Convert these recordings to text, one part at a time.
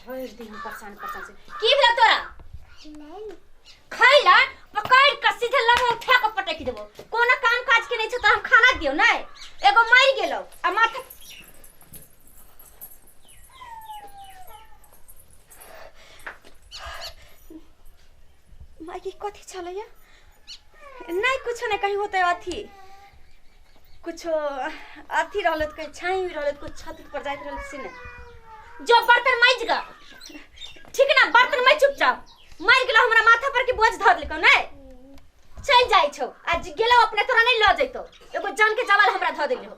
भरि दिन परेशान परेशान से की भेल तोरा खैला पकड़ के सीधे लगा उठा के पटक देबो कोनो काम काज के नहीं छ त हम खाना दियो नै एगो मर गेलो आ माथा मायके कथी छलैया नहि कुछो नहि कहीं होतै अथी कुछो अथी रहलै तऽ कहीं छाँही भी रहलै तऽ कुछ छत पर जाइत रहलै से नहि जो बर्तन माइज ग ठीक ना बर्तन माइज चुपचाप मार गेलो हमरा माथा पर के बोझ धर लेको नै चल जाइ छौ आज गेलो अपने तोरा नहीं ल जैतो एगो जान के जवाल हमरा धर देले हो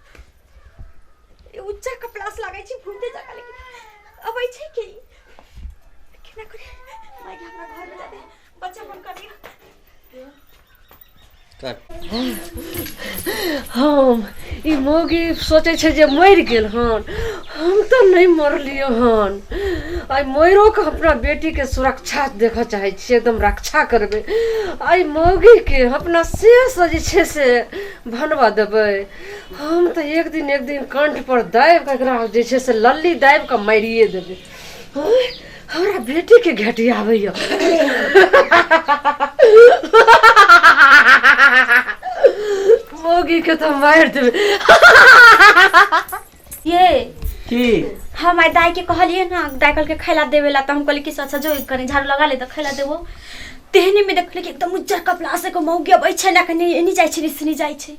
उच्चा कपड़ा से लगे छी घूमते जगह लेकिन अबै छै कि केना करे माय के हमरा घर में जाते बच्चा फोन कर दियो हम ई मौगी सोचै छै जे मरि गेल हन हम तऽ नहि मरलियै हन आइ मरिओके अपना बेटीके सुरक्षा देखऽ चाहै छियै एकदम रक्षा करबै आइ मौगीके अपना शेष जे छै से भनबऽ देबै हम तऽ एक दिन एक दिन कंठ पर दाबि कऽ एकरा जे छै से लल्ली दाबि कऽ मारिए देबै ओए, हमरा बेटी के घेटी आबैया मोगी के तऽ मारि देबै ये की हम आइ दाइके कहलियै ने दाइ कहलकै खैला देबे ला तऽ हम कहलियै कि से अच्छा जो कनि झाड़ू लगा ले तऽ खैला देबो तेहनेमे देखलियै कि एकदम उज्जर कपड़ा से एगो मौगी अबै छै ने कनि एनी जाइ छै निसनी जाइ छै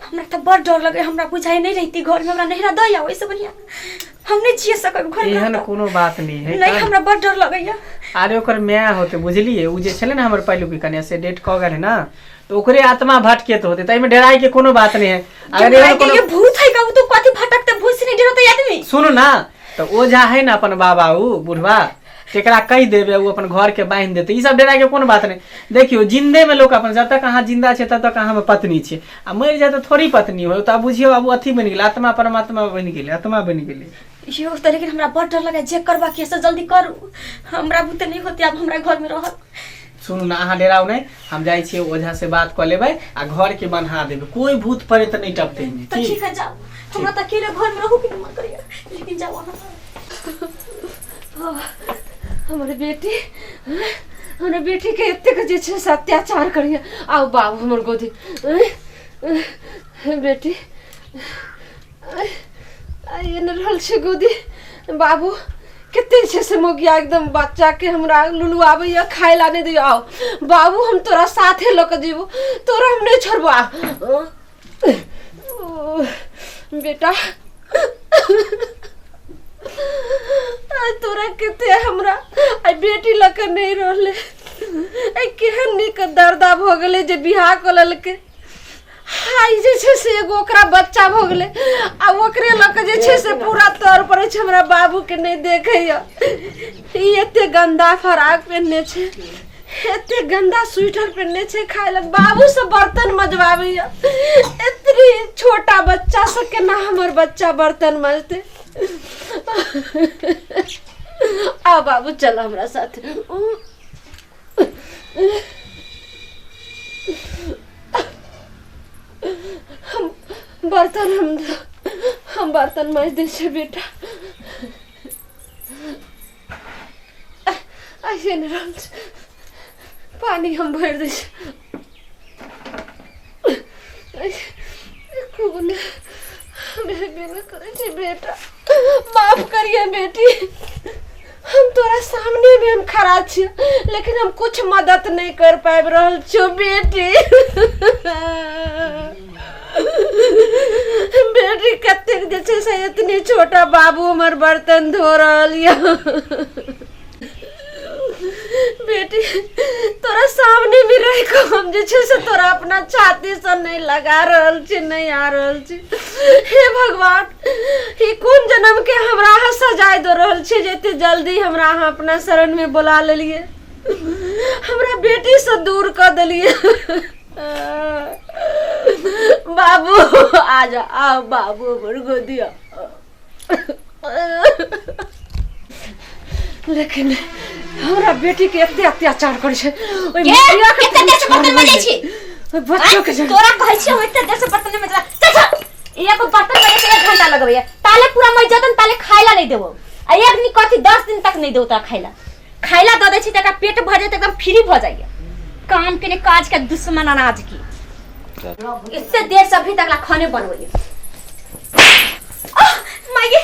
हमरा तऽ बड़ डर लगै हमरा बुझाइ नहि रहिती घरमे हमरा नहिरा दऽ आउ ओहिसँ बढ़िआँ हम नहि जिए सकब घरमे एहन हमरा कोनो बात नहीं तऽ- है नहीं का? हमरा बड़ डर लगैया अरे ओकर माय होते बुझलिए उ जे छले ना हमर पहिलुकी कन्या से डेट कह गेल है ना तो ओकरे आत्मा भटके तो होते ताइमे डराई के कोनो बात नहीं है अगर अगर एहन कोनो ये भूत है का वो तो कथी भटकते भूत से नहीं डरते आदमी सुनू ना तो ओ जा है ना अपन बाबा ऊ बुढ़वा तेकरा कह देबे ऊ अपन घर के बांध देते ई सब डरा के कोनो बात नहीं देखियो जिंदे में लोग अपन जब तक अहाँ जिंदा छे तब तक अहाँ में पत्नी छे आ मर जाए तो थोड़ी पत्नी हो तो आब बुझियो आब ऊ अथी बनि गेल आत्मा परमात्मा बनि गेल आत्मा बनि गेल यो त लेकिन हमरा बड़ डर लगा जे करवा के से जल्दी करू हमरा बुते नहीं होती अब हमरा घर में रहत सुनू ने अहाँ डेराउ नहि हम जाइ छियै ओझा से बात कऽ लेबै आ घर के बन्हा देबै कोई भूत प्रेत नहि टपते एहिमे, तऽ ठीक ठीक है जाओ हमरा तऽ अकेले घर में रहू के नहीं मन करिया लेकिन जाओ अहाँ हमर बेटी हँ, हमर बेटी के एतेक जे छै से अत्याचार करिया आउ बाबू हमर गोदी हँ, हँ, बेटी एहन रहल छै गोदी बाबू कते छै से मोगिया एकदम बच्चा के हमरा लुलू आबे या खाए ला नहीं दियो आओ बाबू हम तोरा साथे ल के जीवो तोरा हम नहीं छोड़बो आ ओ, बेटा आ, तोरा कते हमरा आई बेटी ल के नहीं रहले आई केहन निक दर्दा भ गेले जे बियाह क लेलके हाय जे छै से एगो ओकरा बच्चा भऽ गेलै आ ओकरे लऽ कऽ जे छै से पूरा तौर पर छै हमरा बाबू के नहि देखैया ई एते गंदा फराक पहनने छै एते गंदा स्वेटर पहनने छै खाय लग बाबू से बर्तन मजबाबैया एतनी छोटा बच्चा से केना हमर बच्चा बर्तन मजते आ बाबू चल हमरा साथ हम बर्तन हम धो- हम बर्तन माज दै छै बेटा ऐसे नहि रहल छै पानि हम भरि दै छै मदद नहीं कर पाबि रहल छौ बेटी बेटी कतेक जे छै से एतने छोटा बाबू हमर बर्तन धो रहल यऽ बेटी तोरा सामने में रह के हम जे छै से तोरा अपना छाती से नहीं लगा रहल छी नहीं आ रहल छी हे भगवान ई कोन जन्म के हमरा अहाँ सजाय दो रहल छी जे एते जल्दी हमरा अहाँ अपना शरण में बुला लेलिए हमरा बेटी से दूर कर देलिए बाबू आ जा आओ बाबू हमर गोदिया लेकिन हमरा बेटी के एते अत्याचार करे छै ओइ के? मुखिया के एते देर से छोड़ बर्तन मजै छी? ओइ बच्चो के जगह तोरा कहै छियै हम एते देर से बर्तन में चला चल चल एगो बर्तन में से एक घंटा लगबैया ताले पूरा मर जतन ताले खाइला नहीं देबो आ एक दिन कथी दस दिन तक नहीं देबो तोरा खाइला खाय ला दऽ दै छी तऽ एकरा पेट भर जाए तऽ एकदम फ्री भऽ जाइए काम के ने काज के दुश्मन अनाज की एते देर से अभी तक ला खाने बनबैए आह, माये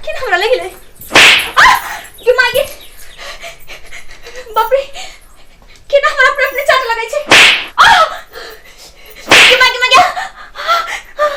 केना हमरा लागि गेलै आह, गे माये बाप रे केना हमरा अपने अपने चाट लगै छै आह, गे माये, गे माये, आह,